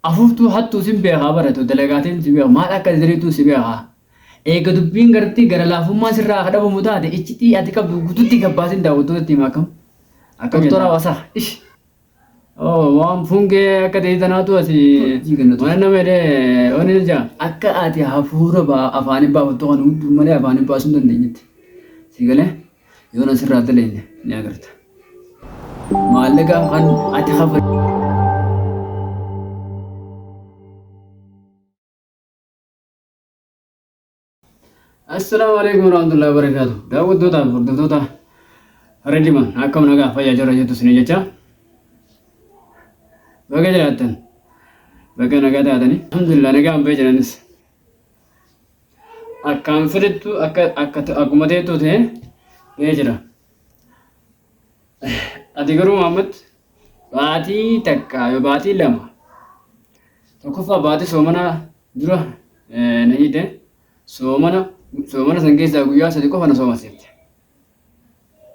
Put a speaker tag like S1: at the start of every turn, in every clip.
S1: Afuftuu hattuu sin beekaa bara too dalagaatiin si beeka maal akka diriituu si beeka eega dubbiin gartee gara laafummaan sirraa ka dhabamu taate iccitii ati qabdu gututti gabbaasin daawwattootatti hima akkam akkam toraa wasaa ish oo waan fungee akka ta'e tanaatu ati waan nama jedhee waan hin jaa akka ati hafuura baa afaanii baafattu kan hudduu malee afaanii baasuu hin dandeenyetti si galee. Yoon asirraa dalagne ni agarta. Maallaqa kan ati kafalte. Assalaamu alaikum warahmatullahi wabarakatuh. Daawwattootaa fi hordoftoota Rediman akkam nagaa fayyaa jirra jettu isin jecha. Baga jiraattan. Baga nagaa taatanii. Alhamdulillah nagaan bahe jiranis. Akkaan fedhettu akka akka akkuma teettuu ta'e ee jira. Ati garuu Muhammad baatii takka yoo baatii lama tokkoffaa baatii soomanaa dura eh, na hiite soomana soomana san keessaa guyyaa sadi qofa na soomaseette.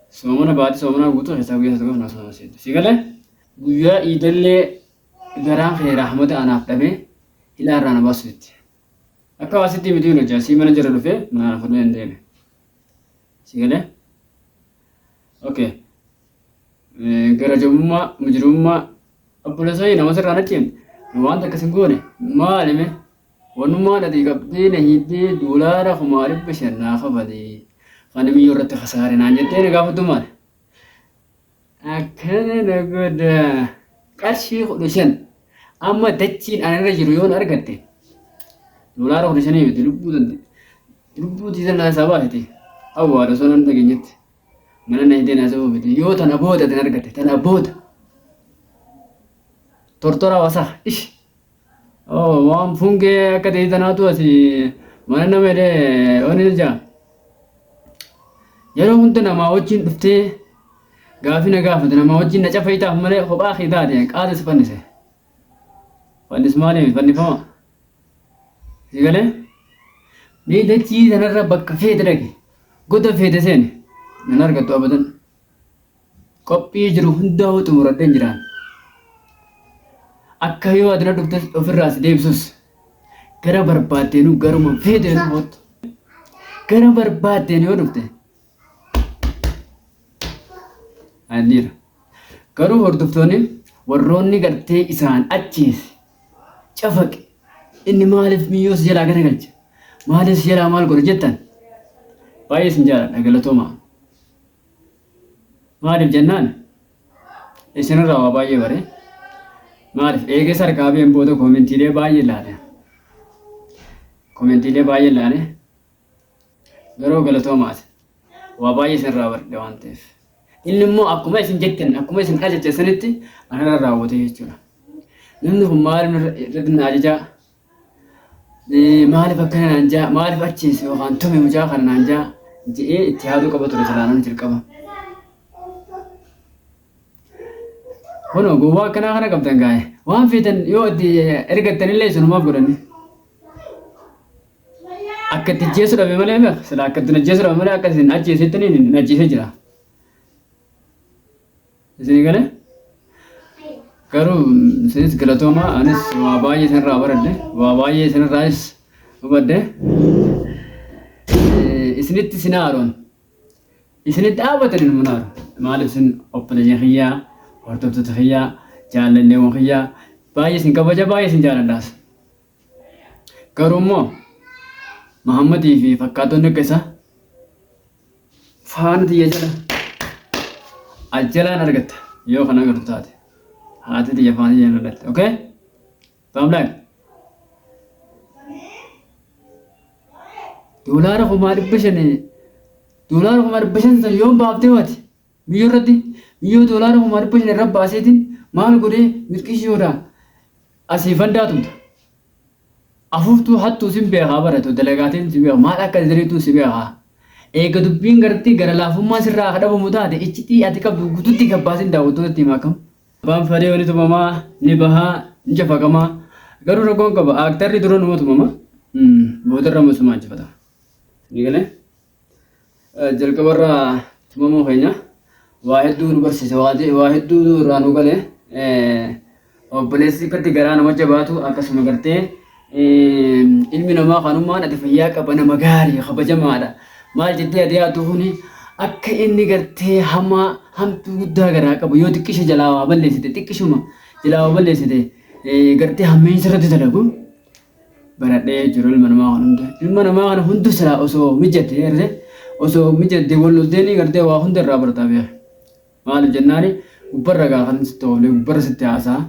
S1: Soomana baatii soomanaa guutuu keessaa guyyaa sadi qofa na soomaseette. Si galee guyyaa iidallee garaan kee rahmata anaaf dhabee hidhaa irraa na baasuutti. Akka waa sitti mitii nuti asii mana jira dhufee mana fudheen deeme. Si galee? Okay. Gara jabummaa mujirummaa obboleessanii namoota irraa nachiin wanta akkas hin goone maali mee wanummaa dhati qabdee na hiittee doolaara kumaa dhibba shan naa kafalee kan miyyoo irratti kasaare naan jettee na gaafatu maali? Akkana na godha. Qarshii kudha shan. Amma dachiin ana irra jiru yoon argatte. Dolaara kudha shanii miti lubbuu tante. Lubbuu tiisan na sabaa fite. Awwaala osoo nan dhageenyetti. Mana na hidhee na sabaa fite. Yoo tana booda tan argatte. Tana booda. Tortoraa wasaa. Ish. Oh, waan fungee akka ta'e tanaatu asi mana nama jedhee wani jaa. Yeroo hunda namaa wajjin dhuftee gaafii na gaafate namaa wajjin na cafayitaaf malee kophaa kee taate qaata si fannise. Fannis maaliif fannifama? Si galee? Mee dachii sanarra bakka feete dhaqi. Goda feete seeni. Nan argattu abadan. Qophii jiru hundaahuu xumuradhen jira. Akka yoo ati na dhuftes ofirraa si deebisus gara barbaaddeenuu garuma feeteenu hoottu. Gara barbaaddeen yoo dhufte anniira. Garuu hordoftoonni warroonni gartee isaan ajjeese cafaqe inni maaliif miyyoo si jalaa garagalche maaliif si jalaa maal godhe jettan baay'ee isin jaaladha galatoomaa. Maaliif jennaan isin irraa waa baay'ee bare. Maaliif eegas harkaa been booda koomentiilee baay'ee ilaale. Koomentiilee baay'ee ilaale. Garuu galatoomaas waa baay'ee isin irraa barde waan ta'eef. Inni immoo akkuma isin jettan akkuma isin ajajjessanitti anarra raawwate jechuudha. Namni kun maal irratti na ajajaa? Eh, Maaliif akkana naan jaa maaliif achiis yookaan tumi mucaa kana naan jaa je'ee itti yaaduu qaba ture salaanonni jalqaba. Kunoo gowwaa akkanaa kana qabdan gaa'e waan feetan yoo itti ergattanillee sunumaaf godhanni. Akka itti ajjeessu dhabe malee beek sila akka itti ajjeessu dhabe malee akka isin ajjeesettaniin hin ajjeesee jira. Isinii galee? Garuu isinis galatoomaa anis waa baay'ee isinirraa baradhe waa baay'ee isinirraayis hubadhe. Eh, Isinitti isin haaroon isinitti dhaabatan ilmuun haaru maaliif isin obboleeyyan kiyyaa hordoftoota kiyyaa jaalalleewwan kiyyaa baay'ee isin kabaja baay'ee isin jaaladhaas. Garuu immoo Mahammadii fi fakkaatonni akka isaa faana tiyya jala aljalaan argatta yoo kan agartu taate haati tiyya faana tiyya na dhalte okay bottom line doolaara kumaa dhibba shanii doolaara kumaa dhibba shan san yoon baaftee waati biyya irratti biyya doolaara kumaa dhibba shan irra baaseetiin maal godhee milqishiyoodha asii fandaa tumta Afuftuu hattuu sin beekaa bar atuu dalagaatiin si beeka maal akka ziriituu si beeka eega dubbiin garttii gara laafummaa sirraa ka dhabamu taate iccitii ati qabdu gututti gabbaasin daawwattootatti himi akkam abbaan fadheeyo ni tumama ni baha ni cafaqama garuu rakkoon qaba aaktarri dura numa tumama boodarra ammo isuma injifatama sii galee. jalqabarraa tumamuu keenya waa hedduu nu barsiise waa je- waa hedduu nu irraa nu gale eh, obboleessi gadi garaa nama jabaatu akkasuma gartee eh, ilmi namaa kanummaan ati fayyaa qaba nama gaarii kabajamaadha maal jettee ati yaaddu kuni akka inni gartee hamaa hamtuu guddaa garaa qabu yoo xiqqishe jalaa waa balleessite xiqqishuma jalaa waa balleessite eh, gartee hammeensa irratti dalagu baradhee jiru ilma namaa kan hunda ilma namaa kana hunda silaa osoo mijate garte osoo mijate wal lolteeni garte waa hunda irraa bartaa beeka maaliif jennaani gubbarra gaa kan sitti ooflee gubbarra sitti haasaa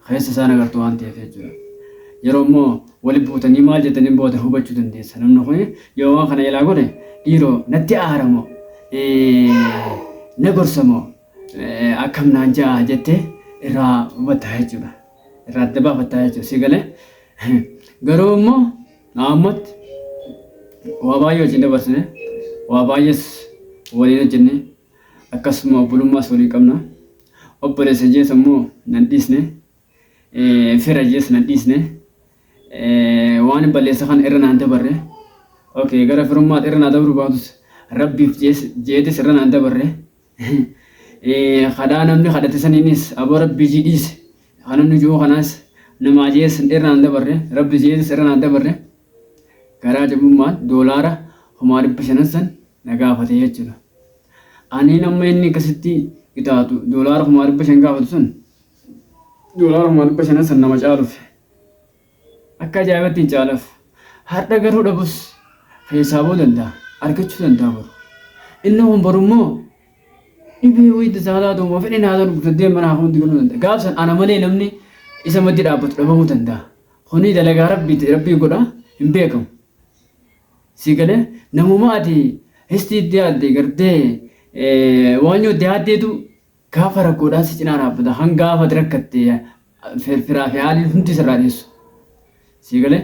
S1: keessa isaan agartu waan ta'eef jechuudha yeroo immoo wali buutanii maal jetanii booda hubachuu dandeessa namni kun yoo waan kana ilaa godhe dhiiroo natti aaramoo na gorsamoo akkam naan ja'a jettee irraa hubatta jechuudha. irraa adda baafattaa jechuudha si galee garuu immoo naammatti waa baay'ee wajjin dabarsine waa baay'ees waliin hojjenne akkasuma obbolummaas waliin qabna obboleessa jees immoo nan dhiisne fira jees nan dhiisne waan hin balleessa kana irra naan dabarre okay gara firummaatti irra naa dabruu baatus rabbiif jees jeetis irra naan dabarre. kadhaa namni kadhate saniinis aboo rabbi jii dhiise kanan nu ji'uu kanaas nama ajeessan irra naan dabarre rabbi jeetis irra naan dabarre garaa jabummaan doolaara kumaa dhibba shanan san na gaafate jechuudha. Ani nama inni akkasitti qixaaxu doolaara kumaa dhibba shan gaafatu sun doolaara kumaa dhibba shanan san nama caaluuf Akka ajaa'ibatti hin caalaf. Hardha garuu dhabus, keessaa ba'uu danda'a, argachuu danda'a boru. Inni kun boru immoo dhibee wayii itti isaa taatu immoo fedheen haa ta'u gurguddee mana hafuun digaluu danda'a. Gaaf san ana malee namni isa maddi dhaabbatu dhabamuu danda'a. Kuni dalagaa rabbiiti, rabbii godha hin beekamu. Si galee namuma ati histii itti yaadde gartee waan yoo itti yaaddeetu Gaafa rakkoodhaan si cinaa dhaabbata, hanga gaafa ati rakkatte firfiraa fi haaliin hundi sirraa dheessu. Sii galee?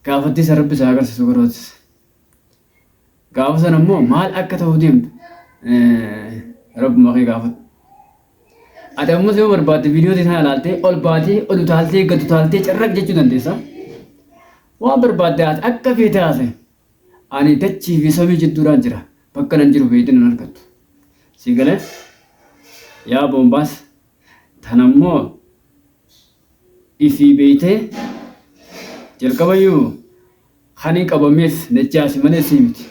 S1: Gaafattii san Rabbi si haa agarsiisu garootis. Gaafa san ammoo maal akka ta'uu deemtu Rabbuma kee gaafadhu. Ati ammas yoo barbaadde viidiyootii sana ilaaltee ol baatee ol utaaltee gad utaaltee carraq jechuu dandeessa. Waan barbaadde ati akka feete haasa'e. Ani dachii fi samii jidduudhaan jira, bakka nan jiru feete nan argattu. Sii galee? Yaa boombaas, tana immoo ifii beeytee? Jalqaba iyyuu kani qabameef najjaasi malee sii miti.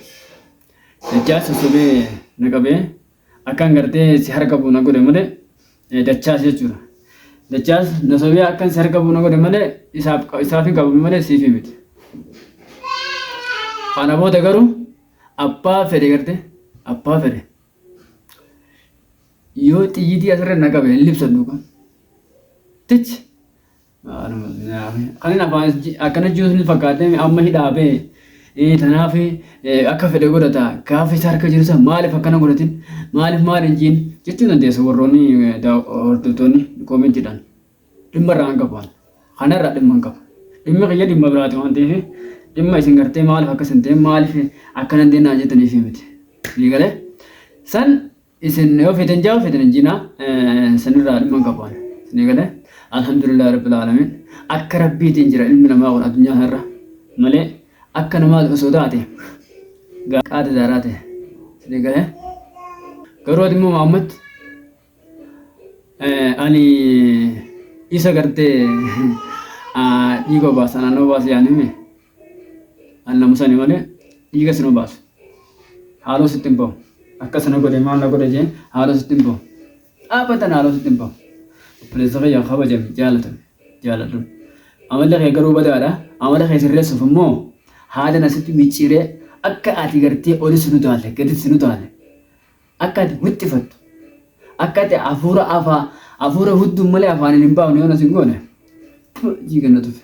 S1: Najjaasi sobee na qabee. Akkan gartee si harka bu'u na godhe malee Dachaas jechuudha. Dachaas Nasobiyaa akkan si harka bu'u na godhe malee isaaf isaafii qabame malee siifii miti. Kana booda garuu abbaa fedhe gartee abbaa fedhe yoo xiyyitii asirra na qabe hin libsadhu kan. Tichi Kanin afaan akkana jiru sun fakkaatee amma hidhaa bee. Tanaaf akka fedhe godhata gaafa isa harka jiru san maaliif akkana godhatin maaliif maal hin jiin jechuu dandeessu warroonni hordoftoonni koomentiidhaan dhimma irraa hin qaban. Kanarraa dhimma hin qabu. Dhimmi kiyya dhimma biraati waan ta'eef dhimma isin gartee maaliif akkas hin ta'in maaliif akkana hin ta'in naan jettaniif miti. Ni galee? San isin yoo feetan jaa feetan hin jinaa sanirraa dhimma hin qabu ani isinii galee alhamdulillah rabbil alamin akka rabbiitiin jira ilmi namaa kun addunyaa kanarra malee akka namaa osoo taate gaa- qaata daaraa ta'e isinii galee garuu ati immoo Muhammad eh, ani isa gartee ah, dhiiga obaasa naannoo obaasa yaanime An na musani malee dhiiga sin obaasu. Haaloo sitti hin bahu. Akkas na godhe maal na godhe jee haaloo sitti hin bahu. Dhaabbataan haaloo sitti hin bahu. Obboleessa kiyya kabajame, jaalatame, jaaladhu. Amalli kee garuu badaadha. Amala kee sirreessuuf immoo haada na sitti micciiree akka ati gartee oli sin utaalle, gadi sin utaalle, akka ati wixxifattu, akka ati hafuura afaa hafuura hudduun malee afaaniin hin baafne yoo na sin goone, jiiga na tufe.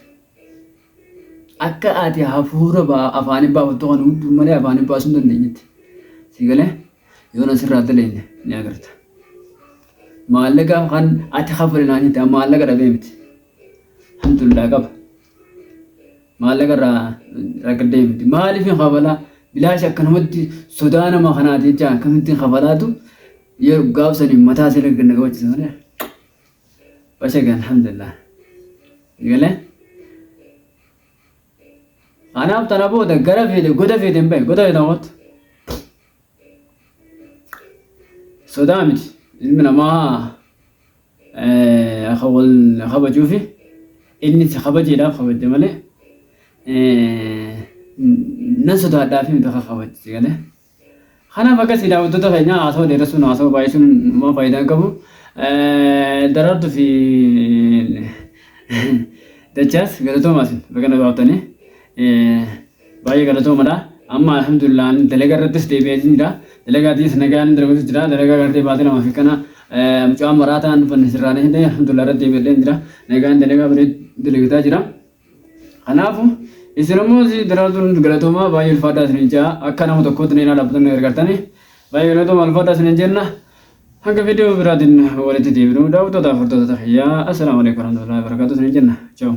S1: Akka ati hafuura ba'a afaanii baafattu kana hunduu malee afaanii baasuu hin dandeenyetti. Sii galee? Yoo na sirraa daleenye ni agarta. Maallaqa kan ati kafale naan jette an maallaqa dhabee miti. Alhamdulillah qaba. Maallaqa irraa rakkadhee miti. Maaliif hin kafalaa? Bilaash akkanumatti sodaa nama kanaati jecha akkamittiin kafalaatu yoo gaafsaniin mataa sirrii gad na qabachiisa malee. Bachaga alhamdulillah gale anaaf tana booda gara feete goda feete hin bahe goda feete hawwattu sodaa miti ilmi namaa akka wal kabajuufi inni si kabajeedhaaf kabajje malee nan sodaadhaafi miti akka kabajje galee. Kanaaf akka isin daawwattoota keenyaa haasawa dheeressuun haasawa baay'isuun homaa faayidaa hin qabu. Daraartu fi Dachaas galatoomaa isin baga nagaa dhuftanii. Baay'ee galatoomadha. Amma alhamdulillah ani dalagaa irrattis deebi'een jira. Dalagaa tiis nagaan dalaguutu jira. Dalagaa gartee baatee lamaa fi kana mucaan maraataan dhufanne sirraan hidhee alhamdulillah irratti deebi'een jira. Nagaan dalagaa bareedu dalagitaa jira. Kanaafu isin ammoo si daraartuun galatoomaa baay'ee ulfaadhaa isinin jaa akka nama tokkootti na ilaala abbatanii gargaartani baay'ee galatoomaa ulfaadhaa isinin jenna hanga viidiyoo biraatiin walitti deebinu daawwattootaaf hordoftoota kiyyaa assalaamu alaikum warahmatullahi wabarakatuh isinin jenna chaawu.